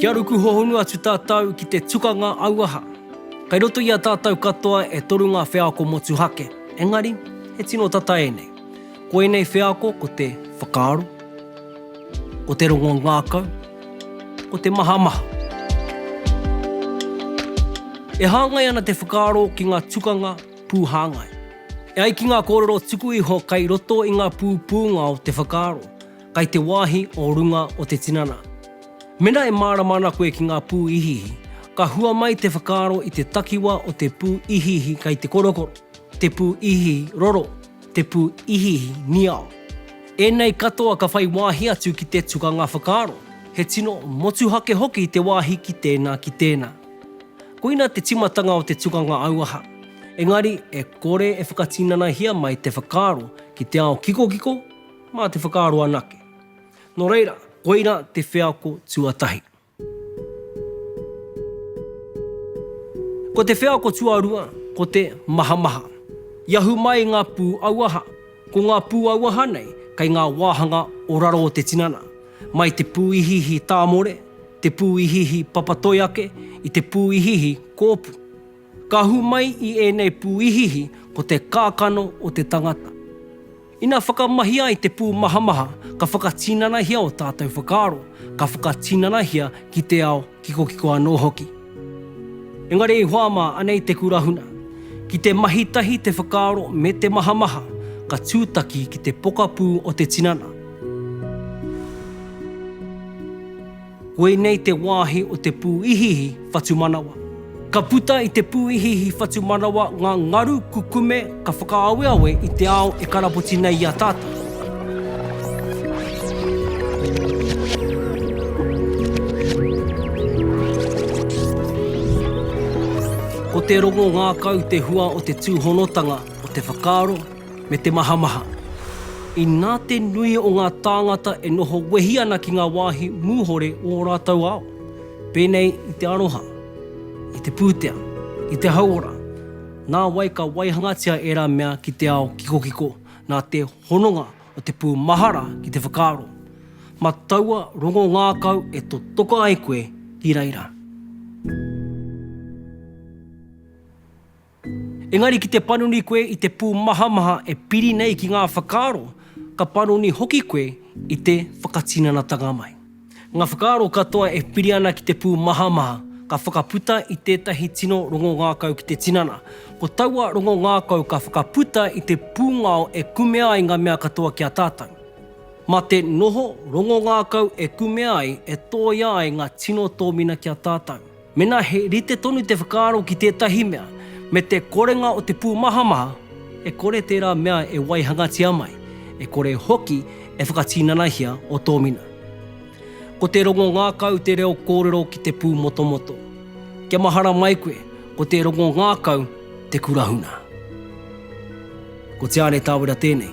Kia ruku hohonu atu tātou ki te tukanga auaha. Kei roto i a tātou katoa e toru ngā wheako motuhake, engari, he tino tata ēnei. Ko ēnei wheako ko te whakaaro, ko te rongo ngākau, ko te mahamaha. E hāngai ana te whakaaro ki ngā tukanga pūhāngai. E ai ki ngā kōrero tuku iho kai roto i ngā pūpūnga o te whakaaro, kai te wāhi o runga o te tinana. Mena e mārama ana koe ki ngā pū ihiihi, ka hua mai te whakaaro i te takiwa o te pū ihiihi kai te korokoro, te pū ihiihi roro, te pū ihiihi, niao. Ēnei katoa ka whai wāhi atu ki te tukanga whakaaro, he tino motuhake hoki te wāhi ki tēnā ki tēnā. Koina te timatanga o te tukanga auaha, engari e kore e whakatinanahia mai te whakaaro ki te ao kikokiko, mā te whakaaro anake. Nō reira, koira te wheako tuatahi. Ko te wheako tuarua, ko te mahamaha. I ahu mai ngā pū auaha. Ko ngā pū auaha nei, kei ngā wāhanga o raro o te tinana, mai te pū ihiihi tāmore, te pū ihiihi papatoi ake, i te pū ihiihi kōpu. Ka hū mai i ēnei pūihiihi ko te kākano o te tangata. Ina whakamahi ai te pūmahamaha ka whakatinanahia ō tātou whakaaro, ka whakatinanahia ki te ao kikokiko anō hoki. Engari i hoa mā anei te kurahuna, ki te mahi tahi te whakaaro me te mahamaha ka tūtaki ki te pokapū o te tinana. Koinei te wāhi o te pūihiihi whatumanawa. Ka puta i te pūihiihi whatumanawa ngā ngaru kukume ka whakaaweawe i te ao e karapoti nei i a tātou. Ko te rongo ngākau te hua o te tūhonotanga o te whakaaro, me te mahamaha. Inā te nui o ngā tāngata e noho wehi ana ki ngā wāhi mūhore o ō rātou ao, pēnei i te aroha, i te pūtea, i te hauora, nā wai ka waihangatia ērā mea ki te ao kikokiko nā te hononga o te pū mahara ki te whakaaro, mā taua rongo ngākau e totoka ai koe ki reira. Engari ki te panoni koe i te pūmahamaha e piri nei ki ngā whakaaro, ka panoni hoki koe i te whakatinanatanga mai. Ngā whakaaro katoa e piri ana ki te pūmahamaha, ka whakaputa i tētahi tino rongongākau ki te tinana. Ko taua rongongākau ka whakaputa i te pūngao e kumea ai ngā mea katoa ki a tātou. Mā te noho rongongākau e kumea ai, e tōia ai ngā tino tōmina ki a tātou. Mēnā he rite tonu te whakaaro ki tētahi mea me te korenga o te pūmahamaha, e kore tērā mea e waihangatia mai, e kore hoki e whakatinanahia o tōmina. Ko te rongo ngākau te reo kōrero ki te pūmotomoto. Kia mahara mai koe, ko te rongo ngākau te kurahuna. Ko Te Āne Tāwera tēnei.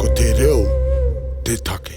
Ko te reo te take.